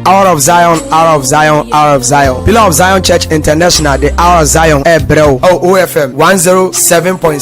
Hour of Zion, Hour of Zion, Hour of Zion. Pillar of Zion Church International, the Hour of Zion, Ebreo, OOFM 107.7.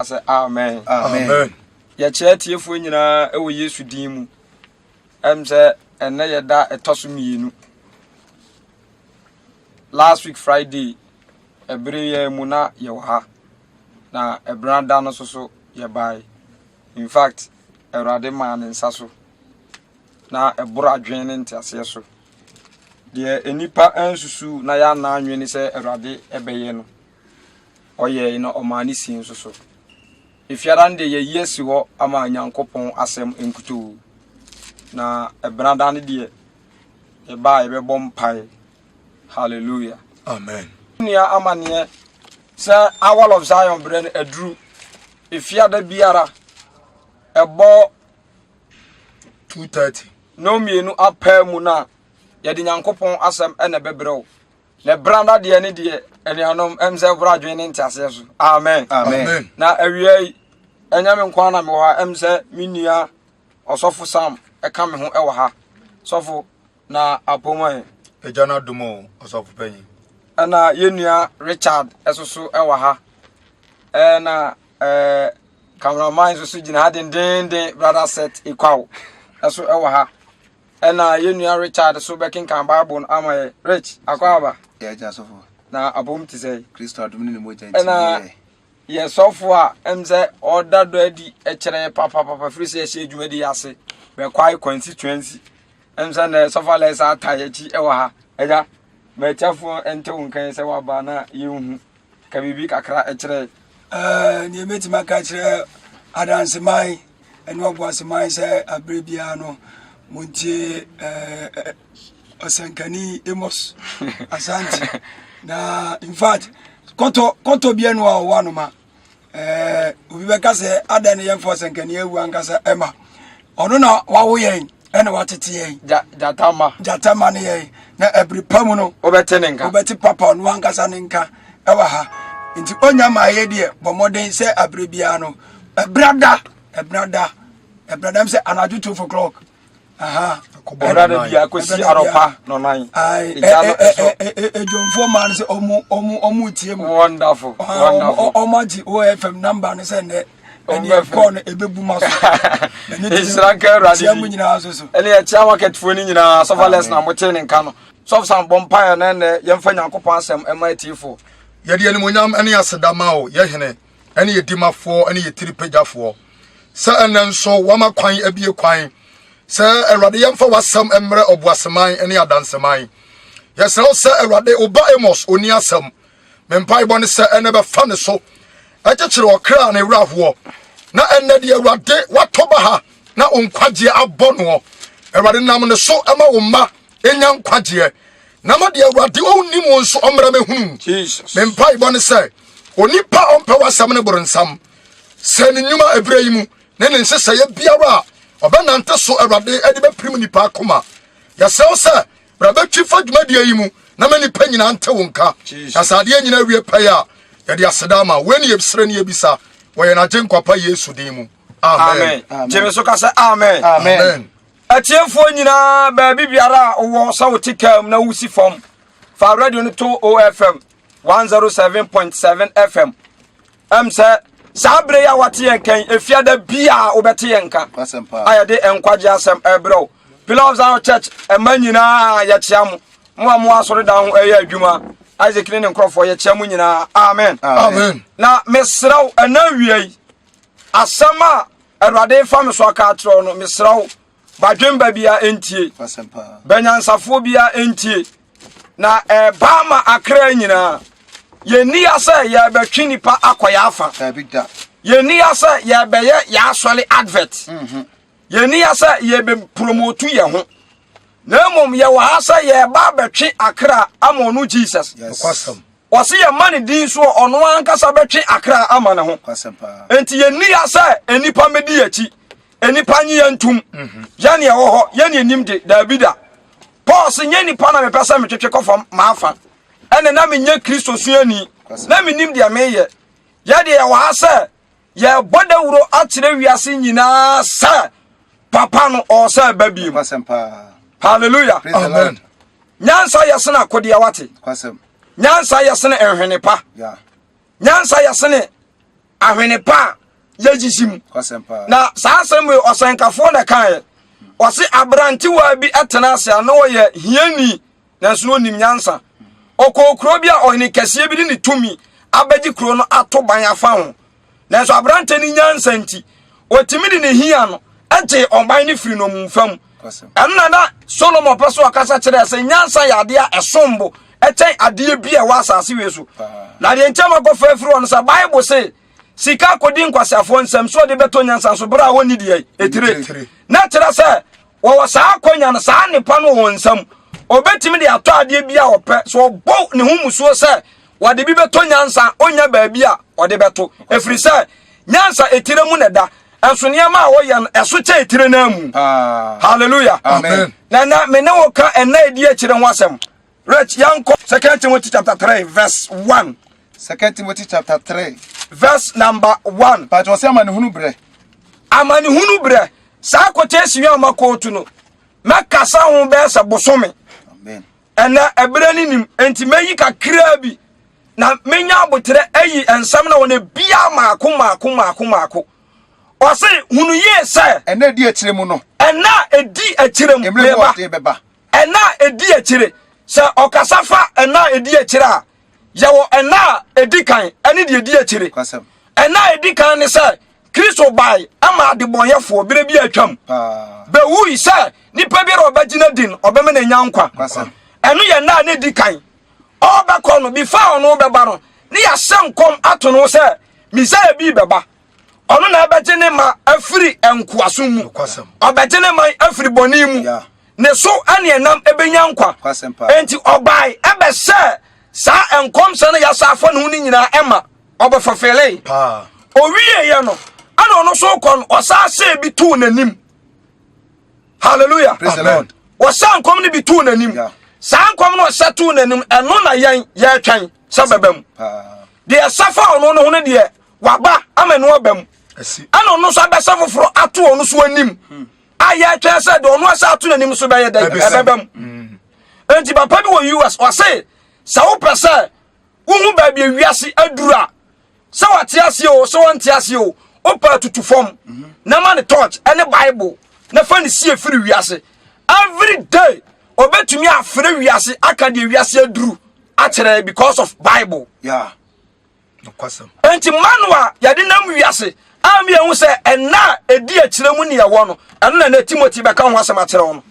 Asɛ amen. Amen. Yɛkyerɛ atiefoɔ nyinaa wɔ Yesu din mu. Ɛm sɛ ɛnɛ yɛda ɛtɔ so mmienu. Last week Friday ɛbere yɛ mu na yɛwɔ ha na ɛbere da no so so yɛbae. In fact Awurade maa ne nsa so na ɛboro adwene ne nteaseɛ so. Deɛ nnipa ansusu na yɛanna anwene sɛ Awurade ɛbɛyɛ no. ɔyɛe na ɔmaa ne sii nso so. Efiada no de yɛyi asi hɔ ama Nyankopɔn asɛm nkutoo. Na ɛbenada no deɛ yɛbaa yɛbɛbɔ mpae. Hallelujah. Amen. Nua amaneɛ sɛ Hour of Zion berɛ no aduru efiada biara ɛbɔ 2:30 na mmienu apaa mu no a yɛde Nyankopɔn asɛm ɛna ɛbɛbrɛ wo. na bra na deɛ ne deɛ anuanom ɛm sɛ ɛhoro adwene ne nteaseɛ so amen amen na awia yi ɛnyɛ me nkoa na mewɔ ha ɛm sɛ me nua ɔsɔfo sam ɛka me ho ɛwɔ ha sɔfo na apɔmu ɛ agya no adom o ɔsɔfo panyin ɛna yɛ nua richard ɛso so ɛwɔ ha ɛna ɛɛ cameraman nso so gyina ha dendenden brother set ikwaw ɛso ɛwɔ ha Ɛna yɛn nua Richard so bɛkenkan Bible no ama yɛ. Rich, akɔ aba? Yɛ agya sɔfo. Na abom te sɛ. Kristo adom ne ne mogya nti ne yɛ. Yɛ sɔfo a ɛm sɛ ɔda dɔ adi kyerɛ yɛ papapapa firi sɛ yɛhyɛ adwuma di ase bɛkwae constituency. Ɛm sɛ na sɔfo Alex ata yɛkyi wɔ ha. Agya, matiafoɔ nte wo nkan sɛ waba na yɛnhu. Ka biribi kakra kyerɛ. Nea mɛtumi aka kyerɛ adanseman ne ɔboaseman sɛ aberɛ biara no montie ɔsɛnkani Amos Asante na in fact kɔtɔ kɔtɔ biara no a ɔwɔ anoma Eh, obi bɛka sɛ adɛn ne yɛmfa ɔsɛnkani awu ankasa ɛma ɔno na wawo yɛn ɛna watete yɛn gyatama gyatama ne yɛn na ɛbiri pa mu no wobɛte ne nka wobɛte papa ɔno ankasa ne nka ɛwɔ ha nti ɔnya ma ayɛ deɛ bɔ mmɔden sɛ abere biara no ɛbrada ɛbrada ɛbrada m sɛ anadwo two o'clock ɛda da bia kɔsi arɔpa nɔnan ɛgya no ɛsɔ adwomfoɔ maa no sɛ ɔmo ɔmo ɔmo tie mu wonderful wonderful ɔmo agye OFM number no sɛ nnɛ ɛne ɛkɔɔ no ɛbɛbu ma so ɛhyira nka awurade tia mu nyinaa so so ɛne ɛkyia wakɛtfoɔ no nyinaa sɔfa lɛs na motee ne nka no sɔfsa bɔ mpaeɛ na ɛnɛ yɛmfa nyankopɔn asɛm ɛma atiefoɔ yɛde animonyam ne aseda ma o yɛhene ne yɛ dimafoɔ ne yɛ tiripagyafoɔ sɛ ɛnɛ nso wama kwan abie kwan sɛ awurade yɛmfa w'asɛm mmerɛ ɔboaseman ne adanseman yɛsrɛ wo sɛ awurade woba amos ɔni asɛm me mpaebɔ ne sɛ ɛnɛ bɛfa ne so ɛkyekyere ɔkra ne werɛhoɔ na ɛnɛ deɛ awurade watɔ ba ha na wo nkwagyeɛ abɔ noɔ awurade nam ne so ma wo mma ɛnya nkwagyeɛ na ma deɛ awurade ɔnnim wo nso ɔmmra mɛhunu me mpaebɔ ne sɛ onipa a ɔmpɛ w'asɛm no boronsam sɛ ne nnwuma ɛberɛ yi mu ne ne nhyehyɛeɛ biara a ɔbɛnante so awurade de bɛpirim nipa akoma yɛsrɛ wo sɛ bra bɛtwi fa dwumadie yi mu na ma nnipa nyinaa nte wo nka na sɛ adeɛ nyinaa wie pɛyɛ a yɛde aseda ama wei ne yɛbisrɛ ne yɛbisa wɔ yɛn agye nkwapa yesu din mu amen gyeme so ka sɛ amen amen Atiefoɔ nyinaa baabi biara a wowɔ sɛ wote kaa mu na wosi fam fa radio no to OFM 107.7 FM ɛm sɛ saa berɛ yi a wate yɛn kan efiada bi a wobɛte yɛn nka a yɛde nkwagye asɛm ɛbrɛ wo Pillar of Zion Church ɛma nyinaa yɛkyea mo mo a mo asɔredan ho ɛyɛ adwuma Isaac ne ne nkurɔfoɔ yɛkyea mo nyinaa amen amen na mesrɛ wo ɛna awia yi asɛm a Awurade fa me so aka akyerɛ wo no, mesrɛ wo, badwemba biara ɛntie, banyansafoɔ biara ɛntie, na ɛba eh, ma akra nyinaa. Yɛnni ya sɛ yɛbɛtwe nnipa akɔ yɛ afa. Yɛnni ya sɛ yɛbɛyɛ yɛ asɔre advert. Mhm. Yɛnni ya sɛ yɛbɛpromotu yɛ ho. Na mmom yɛwɔ ha sɛ yɛba bɛtwe akra ama ɔno Jesus. Yes. Ɔse yɛmma ne din so a ɔno ankasa bɛtwe akra ama ne ho. Enti yɛnni ya sɛ nnipa mmɛdi yɛakyi. Nnipa nye yɛn ntom. Mhm. Yɛne ɛwɔ hɔ, yɛne anim de, daabi da. Paul se nyɛ nnipa na mepɛ sɛ metwetwe kɔfam m'afa. Ɛne na menyɛ Kristo suani. Na menim deɛ meyɛ. Yɛdeɛ yɛwɔ ha sɛ yɛbɔ dawuro akyerɛ wiase nyinaa sɛ papa no ɔsɛ ɛba bi mu hallelujah amen nyansa yɛ sene akodeɛ wate nyansa yɛ sene nhwene pa nyansa yɛ sene ahwene pa a yɛgyisi mu na saa asɛm wei ɔsɛnkafoɔ na ɛkaeɛ ɔse aberantewa bi tena ase a na ɔyɛ hiani nanso na ɔnim nyansa ɔkɔɔ kuro bi a ɔhene kɛseɛ bi de ne tumi abɛgye kuro no ato ban afa ho nanso aberante ne nyansa nti ɔtumi de ne hia no gyee ɔman no firi nɔmumfa mu ɛno na na solomon pɛ so ɔkasa kyerɛ sɛ nyansa yɛ adeɛ a ɛsom bo ɛkyɛn adeɛ bi a ɛwɔ asase wei so na deɛ nkyɛn makɔfa afiri hɔ no sɛ bible se sika akɔdi nkwaseafoɔ nsɛm so ɔde bɛtɔ nyansa so berɛ a wɔnni deɛ ɛtire na kyerɛ sɛ wɔwɔ saa akwanya no saa nnepa no wɔ wɔn nsam ɔbɛtumi de atɔ adeɛ bi a ɔpɛ so ɔbɔ ne ho musuo sɛ wɔde bi bɛtɔ nyansa ɔnya baabi a ɔde bɛto ɛfiri sɛ nyansa etire mu na ɛda ɛnso nneɛma a wɔyɛ no ɛso kyɛ etire no mu hallelujah amen na na me ne wo ka ɛna ɛdi akyire ho asɛm Rich, yɛnkɔ 2 Timothy chapter 3 verse 1. 2 Timothy chapter 3 verse number 1. Pàtó ɔsɛ amanehunu brɛ. Amanehunu brɛ. Saa quotation yi a ɔma kootu no, mɛkasa ho bɛyɛ sɛ bosome. Ɛnɛ ɛberɛ no nim, enti mɛyi kakraa bi na menya aboterɛ ayi nsɛm na wɔn bia maako maako maako maako ɔse hunu yie sɛ ɛna ɛdi akyire mu no ɛna ɛdi akyire mu meba Nna a Edi Akyire, Sɛ ɔkasa fa nna a edi akyire a, yɛwɔ nna a edi kan ne deɛ edi akyire. Nna a edi kan ne sɛ Kristo bae maa adebɔneyɛfoɔ berɛ bi a atwam, bɛwui sɛ nipa biara a ɔbɛgyina din ɔbɛma no anya nkwa. Ɛno yɛ nna a na edi kan. Ɔrebɛkɔ no, before ɔno rebɛba no, na yɛahyɛ nkɔm ato no ho sɛ Mesia bi rebɛba. ɔno na ɛbɛgye ne ma afiri nkoasom mu ɔbɛgye ne man afiri bɔne mu ne so ne ɛnam ɛbɛnya nkwa enti ɔbae ɛbɛhyɛ saa nkɔmhyɛ no yɛasa afa ne ho no nyinaa ɛma ɔbɛfɔfele owieɛ no ɛna ɔno so kɔ no ɔsaa hyɛɛ bi too n'anim hallelujah ɔsaa nkɔm no bi too n'anim saa nkɔm no ɔhyɛ too n'anim ɛno na yɛn yɛtwɛn sɛ bɛbɛ mu deɛ ɛsɛ fa ɔno no ho no deɛ waba ama ɛno aba mu ɛna ɔno nso abɛsɛ foforɔ ato ɔno so anim hmm. a yɛtwɛn sɛ deɛ ɔno asɛ ato n'anim so bɛyɛ dɛn ɛbɛba mu hmm. enti papa bi wɔ us ɔse sɛ wopɛ sɛ wohu baabi awiase aduru a sɛ wate aseɛ o sɛ wɔnte aseɛ o wopɛ atutu fam hmm. na ma ne torch ɛne bible na fa ne sie firi wiase every day ɔbɛtumi afrɛ wiase aka deɛ wiase aduru akyerɛ because of bible yeah. Nokwasɛm. Enti manual a yɛde nam wiase a mi ehu sɛ ɛna a edi akyire mu ne ɛwɔ no, ɛno na na Timothy bɛka ho asɛm akyerɛ wɔn.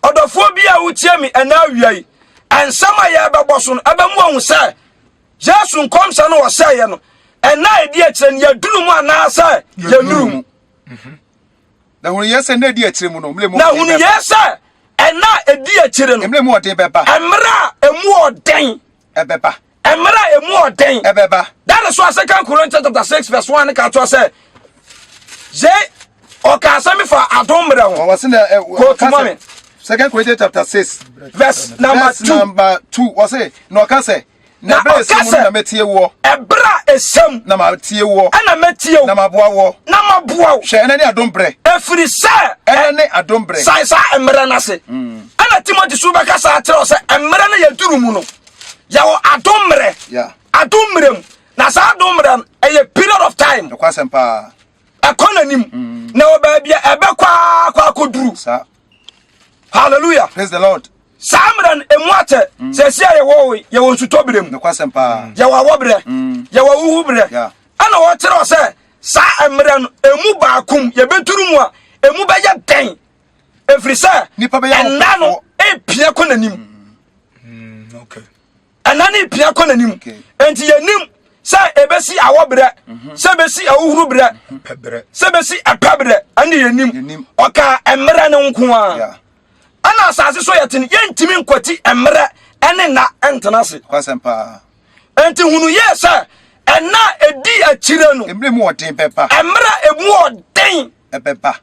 Ɔdɔfoɔ bi a wotie mi ɛna awia yi, nsɛm a yɛbɛbɔ so no ɛbɛmu ahu sɛ Yesu nkɔmhyɛ no ɔhyɛeɛ no ɛna a edi akyire no yɛduru mu anaasɛ yɛnuru mu. Mhm. Na hunu yɛ sɛ ɛna edi akyire mu no, mmerɛ mu na hunu yɛ sɛ ɛna edi akyire no mmerɛ mu ɔden bɛba. Mmerɛ a emu ɔden ɛbɛba. Mmerɛ a ɛmu ɔden ɛbɛba. That is why second Corinthians chapter six verse one ne ka toɔ sɛ sɛ ɔka asɛm bi fa adom mmerɛ ho. Ɔwɔ se na ɛwɔ kasa me. Second Corinthians chapter six verse number verse two. number two wɔ se na ɔka sɛ na ɛberɛ a ɛsɛ mu na mɛtie woɔ. Ɛberɛ a ɛsɛ mu na matie woɔ. Ɛna mɛtie wo. Na maboa woɔ. Na maboa wo. Hwɛ ɛna ne adom berɛ. Ɛfiri sɛ. Ɛna ne adom berɛ. Sae saa mmerɛ no ase. ɛna timothy so bɛkasa akyerɛ sɛ mmerɛ no yɛduru mu no yɛwɔ adom mmerɛ adom mmerɛ mu na saa adom mmerɛ no ɛyɛ period of time ɛkɔ n'anim mm. na wɔ baabi a ɛbɛkɔ akɔ akɔduru hallelujah praise the lord saa mmerɛ no ɛmu akyɛ mm. sɛ ɛsi a yɛwɔ yɛwɔ nsutɔ berɛ mu yɛwɔ awɔ berɛ mm. yɛwɔ wohu berɛ ɛna wɔkyerɛ sɛ saa mmerɛ no ɛmu baakom yɛbɛduru mu a ɛmu bɛyɛ dɛn ɛfiri sɛ ɛna no ɛpia kɔ n'anim mm, ɛna no ɛpia kɔ n'anim enti yɛnim sɛ ɛbɛsi awɔ berɛ mhm. sɛ ɛbɛsi ahohoro berɛ sɛ ɛbɛsi ɛpɛ berɛ ɛne yɛnim ɔka mmerɛ no nko a ɛna asase so yɛte no yɛntumi nkwati mmerɛ ɛne nna ɛntena ase enti hunu yɛ sɛ ɛna ɛdi akyire no mmerɛ ɛmu ɔden ɛbɛba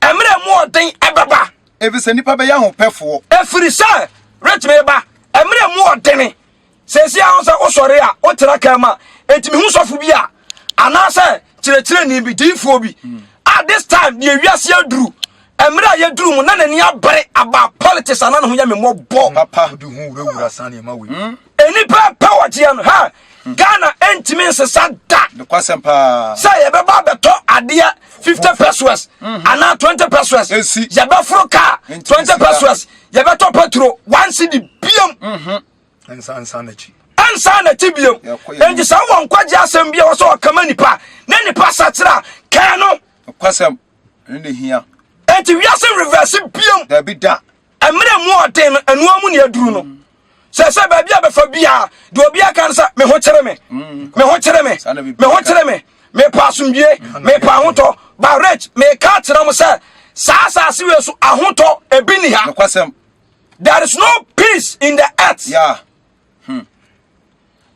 mmerɛ mu ɔden ɛbɛba. Ɛfiri sɛ nnipa bɛyɛ ahopɛfoɔ. Ɛfiri sɛ retumi ba mmerɛ mu ɔdene. Sɛsi a sɛ wosɔre a wotena kaa mu a ɛtumi ho sɔfo bi a anaasɛ kyerɛkyerɛni bi diifoɔ bi hmm. a this time deɛ wiase aduru mmerɛ a yɛduru mu na n'ani abere aba politics ana ne ho yɛ memmɔbɔ papa de ho wurawura saa nneɛma wei hmm. Nnipa pɛ wɔgyeɛ no ha hmm. Ghana ntumi nsesa da sɛ yɛbɛba abɛtɔ adeɛ 50 pesos hmm. anaa 20 pesos yɛbɛforo kaa 20 pesos yɛbɛtɔ petro one cedi biam hmm. ɛnsa n'akyi biam enti sɛ wowɔ nkwagye asɛm bia wɔ sɛ ɔkama nipa ne nipa sakyera kaa no enti wiase reverse biam ɛmmerɛ mu ɔden no ɛnoa mu ne aduru no sɛ sɛ baabi a bɛfa biara deɛ obiara ka no sɛ me ho kyere me mm. me ho kyere me me ho kyere me mepɛ asomdwie mepɛ ahotɔ ba rich meka akyerɛ mo sɛ saa asase wei so ahotɔ ebi ni ha there is no peace in the earth yeah. hmm.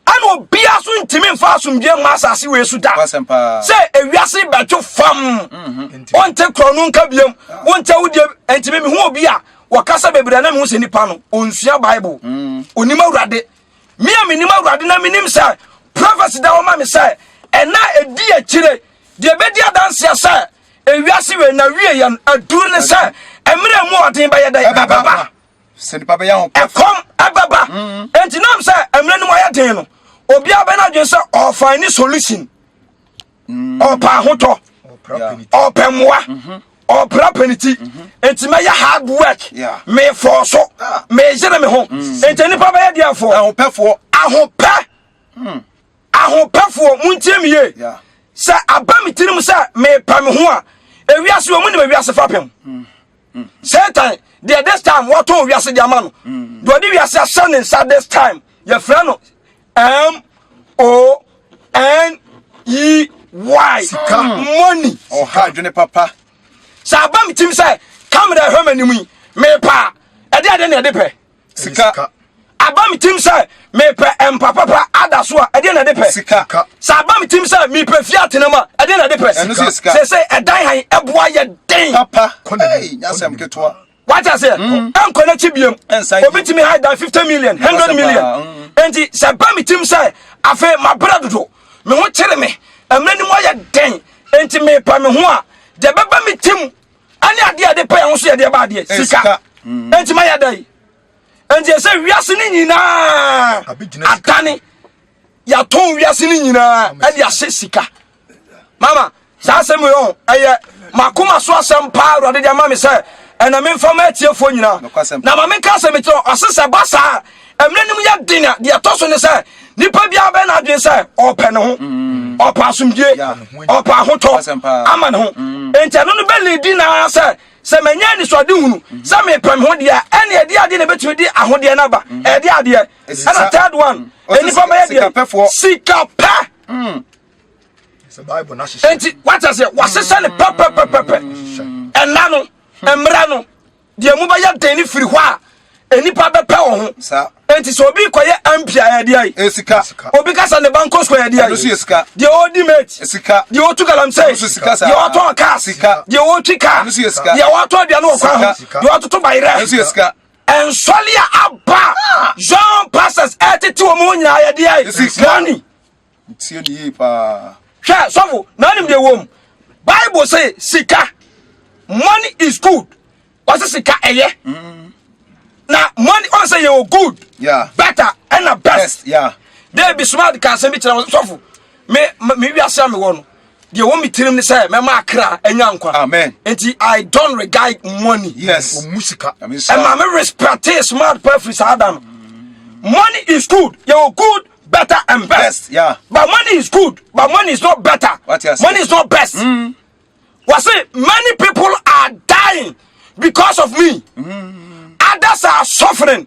ɛna obiara so ntumi mfa asomdwe mma asase wei so da sɛ ewiase bɛtwo fam mhm. wonte korɔ no nka biam wonte wodeɛ ntumi mehu obi a wɔkasa bebree na mehu sɛ nipa no ɔnsua bible mm. ɔnim awurade me a menim awurade na menim sɛ prophecy da wɔma me sɛ ɛna ɛdi akyire deɛ ɛbɛdi adanseɛ sɛ ewiase wei na wie yɛn aduru ne sɛ mmerɛ mu ɔden bɛyɛ dɛ ɛbɛba ɛkɔm ɛbɛba mm. nti nam sɛ mmerɛ no mu ayɛ den no obiara bɛ no adwene sɛ ɔfa ne solution mm. ɔpɛ ahotɔ ɔpɛ mmoa mm-hmm. ɔpra pɛ ne ti mm-hmm. nti mɛyɛ hard work mefɔɔ so ah. meyere me ho mm. nti nnipa bɛyɛ deɛfoɔ ahopɛ mm. ahopɛfoɔ montie me ye sɛ aba me tirim sɛ mepɛ me ho a ewiase wɔ mu ne ewiase fapem satan deɛ this time wɔtɔn wiase deɛ ama no deɛ ɔde wiase ahyɛ ne nsa this time yɛfrɛ no m o n e y sika money ɔha adwene papa sɛ aba me tim sɛ kamera ɛhwɛ m'anim yi mepa ɛde ade na ɛde pɛ sika aba me tim sɛ mepɛ mpa papa ada so a ɛdeɛ na ɛde pɛ sika sɛ aba me tim sɛ mepɛ fie atenam a ɛdeɛ na ɛde pɛ sika sɛ sɛ ɛdan han ɛboa yɛ den papa nyasɛm ketewa wata sɛ mm. ɛnkɔ n'akyi biam obi tumi ha dan 50 million 100 million mm. enti sɛ ba me tim sɛ afei mabrɛ dodo me ho kyere me ɛmɛ ni mu ayɛ den enti mepa me ho a deɛ bɛba me tim ɛne adeɛ a yɛde pɛ yɛn ho so yɛde ɛba adeɛ eh, sika mm. nti ma yɛ dɛ yi nti ɛsɛ wiase ne nyinaa adane yɛatɔn wiase ne nyinaa ɛde ahyɛ sika mama saa asɛm yi ɔn ɛyɛ makoma so asɛm paa awurade de ama me sɛ ɛna memfa ma atiefoɔ nyinaa na ma menka sɛ mekyerɛ ɔse sɛ ba saa mmerɛ no mu yɛ den a deɛ ɛtɔ so ne sɛ nipa biara bɛyɛ n'adwene sɛ ɔpɛ ne ho mm. ɔpɛ asomdwie ɔpɛ ahotɔ ama ne ho mm. nti ɛno no bɛlidi naa sɛ sɛ manya anisoade hunu mm-hmm. sɛ mepɛ me ho deɛ ɛne ɛde adeɛ na ɛbɛtumi de ahodeɛ no aba mm-hmm. ɛde adeɛ ɛna third one nnipa bɛyɛ deɛ sikapɛ nti wata sɛ wasesɛ ne pɛpɛpɛpɛpɛ ɛna no mmara no deɛ mu bɛyɛ den no firi hɔ a nnipa bɛpɛ wɔ ho enti sɛ obi kɔyɛ mp a ɛdeɛ ayi obi ka sɛ ne ba nkɔ sukuu ɛdeɛ ayi deɛ ɔdi mate deɛ ɔtu galamsey deɛ ɔtɔn cars deɛ ɔtwi car deɛ ɔtɔ aduane wɔ kwan ho deɛ ɔtoto bayerɛ ɛnsɔle a aba zone passes ɛtete wɔ mu nyinaa yɛdeɛ ayi money Metie no yie paa. Hwɛ sɔfo, na anim deɛ wɔm. Bible se sika, money is good. Wɔse sika ɛyɛ. Mm. Na money ɔn sɛ yɛwɔ good, yeah. better, ɛna best. best yeah. David Smart ka asɛm bi kyerɛ sɔfo. Me me wiase a mewɔ no. deɛ ɛwɔ me tirim ne sɛ mɛma akra anya nkwa amen nti i don't regard money yes ɔmu sika ɛma me respecte smart pa afiri saa da no money is good yɛwɔ good better and best, best yeah. but money is good but money is not better money is not best mm. wɔ se many people are dying because of me mm. others are suffering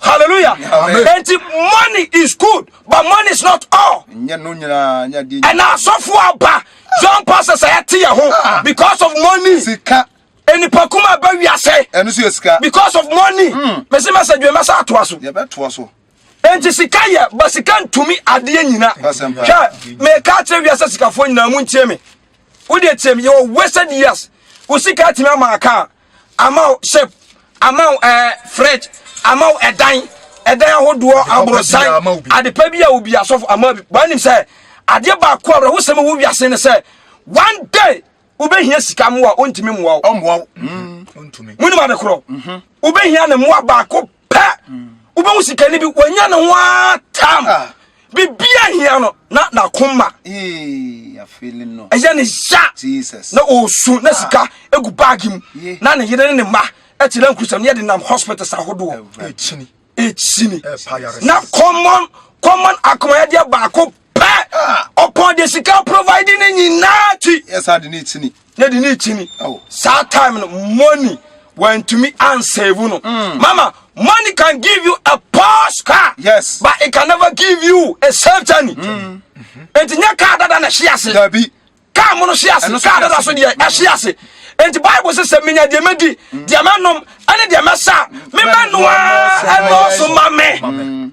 Hallelujah. Amen. And money is good, but money is not all. And I saw for Abba, John Pastor Sayati, ah. because of money. Sika. And the Pakuma Baby, I say, and this is because of money. Messi hmm. Massa, you must ask to us. You bet to us. nti sika yɛ ba sika ntumi adeɛ nyina hwɛ meka kyerɛ wiasɛ sikafoɔ nyinaa mu ntie me wode tie me yɛwɔ wasted years wo sika atumi ama aka a ama wo ship ama wo ɛɛ eh, fridge ama wo ɛdan ɛdan ahodoɔ aborosan adepa bi a obi asɔfo ama bi wɔn anim sɛ adeɛ baako a wɔn ahosɛm wɔ wiase no sɛ one day wobɛhia sika mmoa ɔntumi mmoa wo ɔmmoa wo mm. ɔntumi mu nim ade korɔ wobɛhia ne mmoa baako pɛ wobɛhu sikani bi wanya ne ho ara tam ah. bibia hia no na nakoma ɛyɛ ne ya na ɔsu na ah. sika gu baage mu na ne yere ne ne mma ɛte na nkurusɛm yɛde nam hospitals ahodoɔ ɛkyini na common common akomayɛdeɛ baako pɛ ɔpɔn de sika provide ne nyinaa ti ɛsa de ne kyini ne de ne kyini saa time no money wantumi ansave no mm. mama money can give you a posh car yes but it can never give you a safe journey mm. nti nyɛ car dada na ɛhye ase dabi car mo no hye ase car dada so deɛ ɛhye ase nti bible sɛ sɛ menya deɛ mɛdi mm. deɛ mɛnom ɛne deɛ mɛsa memɛnoa ɛnɔɔso ma me mm.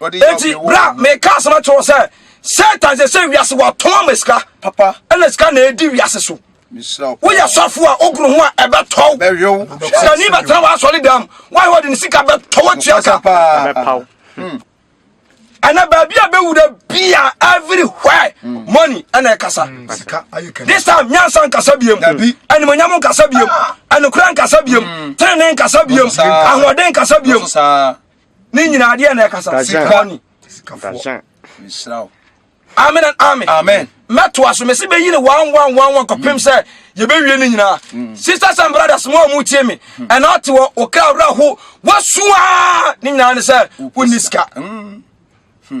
enti bra meka asɛm akyerɛ wo sɛ satan sɛ sɛ wiase watɔn ma sika ɛna sika na ɛdi wiase so woyɛ sɔfo a wogoro ho a ɛbɛtɔw sikani bɛtena w'asɔre dam woayɛ wɔde ne sika bɛtɔ watua ka hmm. ɛna baabi a bɛwu da bia everywhere hmm. money ɛna ɛkasa hmm. this time nyansa nkasa biam animonyam nkasa biam ah. anokora nkasa biam tenene nkasa biam ahoɔden nkasa biam Ne nyinaa deɛ na ɛkasa sikɔni. Sikafoɔ. Nhyira wo. Amen and amen. Amen. Mɛto aso mɛsi bɛyi ne one one one one kɔpem mm. sɛ yɛbɛwie ne nyinaa. Mm. Sisters and brothers mo a mo tie me mm. ɛna ɔte wɔ ɔkra awura ho wɔsoa ne nyinaa ne sɛ wonni sika. Hmm.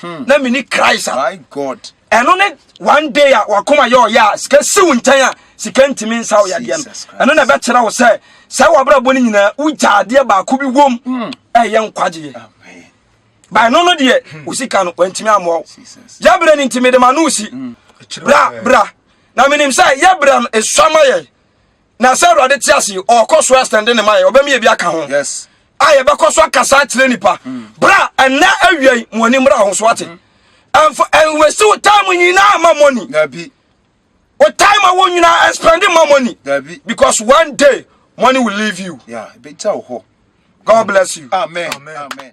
hmm. na mini christ a ɛno ne one day a wakoma yɛ ɔyɛ a sika siw nkyɛn a sika ntumi nsa wo yadeɛ no ɛno na ɛbɛkyerɛ wo sɛ sɛ wabrabɔ no nyinaa wogya adeɛ baako bi wom hmm. ɛyɛ nkwagyeɛ bae no no deɛ hmm. wo sika no wantumi amoa wo yɛberɛ no nti mede ma no si bra bra na menim sɛ yɛberɛ no ɛsua ma yɛ na sɛ awurade te ase ɔkɔ so ɛstɛnde ne mayɛ ɔbɛmi ebi aka ho a yɛbɛkɔ so akasa akyerɛ nipa mm. bra ɛnɛ awia yi mo ani mmra ho so ate ɛnfa mm. ɛnwɛsi wo time nyinaa ma money wo time a wo nyinaa ɛspɛnde ma money because one day money will leave you. Yeah, God bless you. Amen. Amen. Amen.